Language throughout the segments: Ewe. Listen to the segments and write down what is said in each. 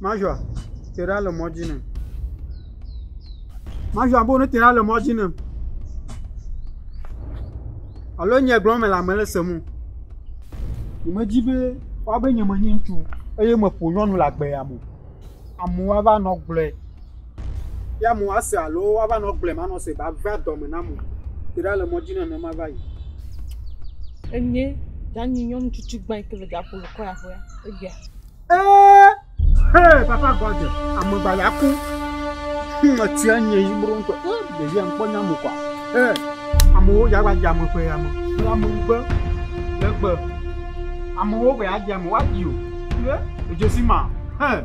Major tera le mɔdzi nɛ. Major bo ne tera le mɔdzi nɛ. Alo nye gblɔm le ame le sem o. Nyemedzi be woabe nye menye ŋutsu eye meƒo nyɔnu le agbe ya me o. Amewo ava nɔ gblɔe. Ye amewo ase alo woava nɔ gblɔe manɔ se va va dɔme nam o. Tera le mɔdzi nɛ ne mava yi. Enye danyi nyɔnu tsitsi gbã yi ke le gaƒo le kɔ ya ƒea egbea. Ee, hee, papa gɔdze, amegba ya ku. Etia nye yi bro ŋutɔ. Ee, ɖevi ya ŋkpɔ nya mo kwa. Ee, amewo ya va dza me ƒe ya me. Le ame ŋugbe, le gbe. Amewo be ya dza me, wa di o. Ee, edzosi ma, hee.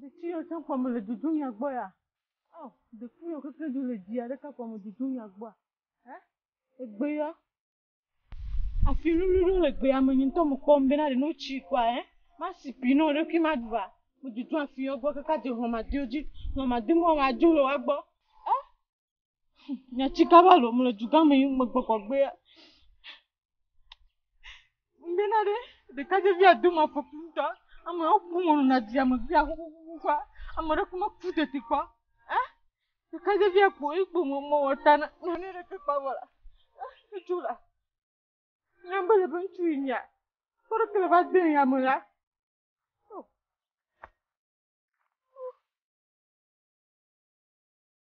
Ɖeti yɔ tsã kpɔ mele dudu mia gbɔ ya. Ɔ, ɖeku yɔ keke du le dia ɖeka kpɔ me dudu mia gbɔ. Hɛ? Egbe yɔ. Afi lulu ɖo le gbe ya me nyi ŋutɔ me kpɔ me bena ɖe no tsi kɔa hɛ. Ma si pi no ɖekui ma du va. Me dudu afi yɔ gbɔ keke adze hlɔma diwo dzi. Hlɔma di mo wa dzo le wa gbɔ. Ɛ? Nye tsika va lom le dugã me yi megbɔgbɔgbea. Ŋbena ɖe ɖekadzɛvia do ma fɔku ŋutɔ. Ame wo ƒu mo na dia me via xoxoxoxoa. Ame ɖe kuma ku tete kpɔ. Eh? Ɖekadzɛvia kpo yi kpo mo mo wɔta na na ne ɖe ke kpɔ vɔ la. Eh, ne tso la. Nya be le be ŋutsu yi nya. Kpɔ ɖe ke le va de ya me la.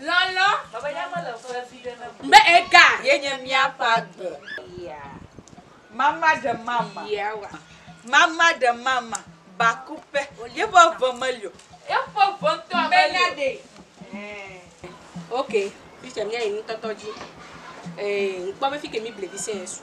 Lɔlɔ. Baba ya mele ƒe vi ɖe name. Be ega. Ye nye mía ƒe agbe. Yeah. Mama ɖe mama. Yeah wa. Mama ɖe mama. Bakuƒe. Ye ƒe ʋe meli o. Ye ƒe ʋe ŋutɔ meli o. Mena ɖe. Eh. Ok. Teacher mía yi nutɔtɔ dzi. Eh, ŋkpɔ be fike mi blevi sɛ su.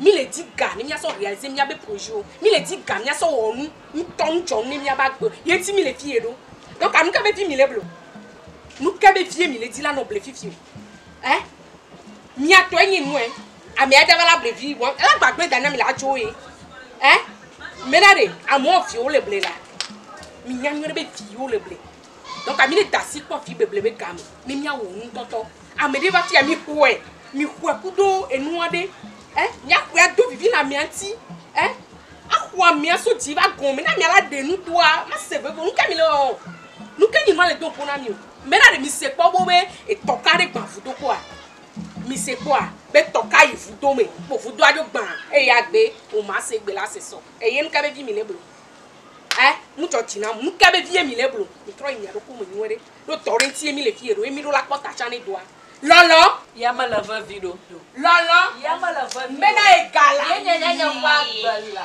Mí le di ga ne mía sɔ realiser mía be projet wo. Mí le di ga mía sɔ wɔ nu ŋutɔ nu dzɔ nu ne mía be agbe. Ye ŋuti mí le fiye ɖo. Donc anu ka be vie mí le ble o? Nu ka be vie mí le di la nɔ ble fifi o? Ɛ? Mía tɔe nye nu ɛ. Ame adza va la ble vi wa ela gba gble da na mi le adzo ye. Ɛ? Mena ɖe amewo viwo le ble la. Mí nya nyuiɖe be viwo le ble. Dɔ ka mi ne da si kpɔ vi beble be game ne mia wo nu tɔtɔ? Ame ɖe va fia mi xɔe, mi xɔe ku ɖo enua ɖe. Eh, mia xɔe ado vivi na mia ŋuti. Eh, axɔa mia so dzi va gɔme na mia la ɖe nu doa, ma se veve. Nu ka mi le wɔwɔ? Nu ke nyi ma le do ƒo na mi o. Mbe na ɖe mi se kpɔ bo be etɔ ka ɖe gba vudo kpɔa? Mi se kpɔa be tɔ ka yi vudo me kpo vudoa ɖo gbã eye agbe o ma se gbe la se sɔ. Eye nu ka vevi mi le blo? Ɛ, nu dzɔ dzi nam. Nu kae be vie mile eblo? Mitrɔ yi mia ɖokui me nyuiɖe. Ɖo dɔ ɖe ŋutie mile fiye ɖo ye miɖo la kpɔ ta tsã ne dɔa. Lɔlɔ. Ya mele vevi ɖo. Lɔlɔ. Ya mele vevi ɖo. Mena ye ga la. Ye nye nyanye ƒe agbe la.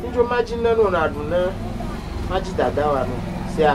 Nudzo madzi ne no naɖu ne madzi dada wa no sia.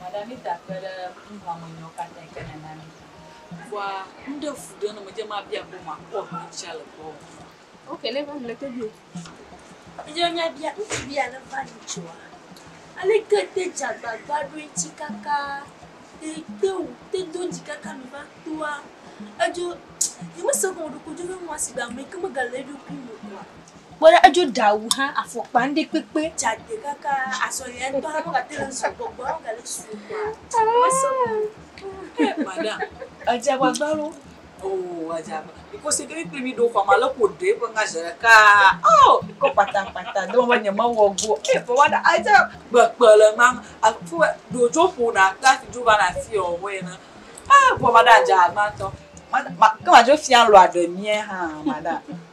Madamitsa kpe ɖe nuxlɔ̃a me nyɔwo katã yi ke nèna mí dzi. Kpɔa nu ɖe fu ɖe ne medze eme abia be makpɔ ʋu ɖe tsia le gbɔwò o. Ok, le va mle tobio. Míawo míabia ŋutsu be ale va nyi tsoa. Ale ke te dze agbagba ɖo eŋuti kaka te te wu te do ŋuti kaka mi va toa. Edzo, nye me se kɔ me ɖo ko dzo ne nua si be ame yi ke me ga le eɖokui me oa. Kpɔ ɖa edzo ɖe awu hã afɔkpa ŋɖe kpekpe. Dzade kaka asɔya ŋtɔ hã megate ŋu su gbɔgbɔa megale su kɔa mesɔ gbɔ. Madam. Edze agbagba ɖo. Oh edze agbagba. Because eke mi kple mi ɖo xɔa me ale ko ɖe eƒe ŋa zeɖeka oh kɔ kpata kpata do be nye mewɔ go eh vɔ wa ɖa edze kpekpe le ŋa aƒu ɖo dzo ƒo na ta fi dzo va na fi ɔ wɔ ena eh vɔ madam dze agbagba ŋtɔ. Madam ke ma dzo fia lɔa ɖe mia hã madam.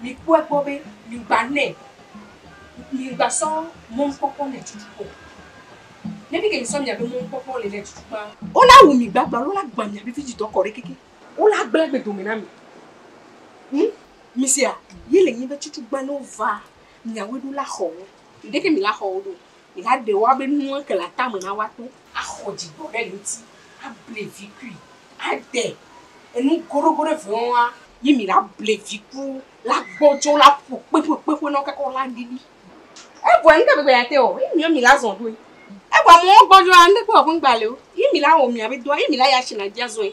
Mi kpɔe kpɔ be mi ŋgba nɛ, mi ŋgba sɔ mɔnukpɔkpɔ nɛ tutu kpɔ o. Ne mi ke mi sɔ miabe mɔnukpɔkpɔ le nɛ tutu kpã. Wo la wu mi gbagba alo wo la gbã miabe vidzidɔ kɔ ɖe keke wo la gblẽ agbe dome na mi. Ŋ, mi sea? Ye le nyi be tutu gbã ne wo va miawoe ɖo la xɔ wo. Ŋdeke mi la xɔ wo ɖo o. Migade wa be nu eke le atame na woato. Axɔ dzigbɔ ɖe ŋuti, able vi kui, ade enu goɖogoɖo eve ŋu wa. Yi mi la ble vi ku la gbɔ dzo la ƒo kpe ƒo kpe ƒo na kaka la ŋdi li. Evɔ ŋde gbegbe ya te o, yi mi mi la zɔn ɖoe. Evɔ ame wo gbɔ dzoa ŋde kpe wɔ ƒe ŋgba le o, yi mi la wɔ mi abe doa, yi mi la ya shi na dzi azɔe.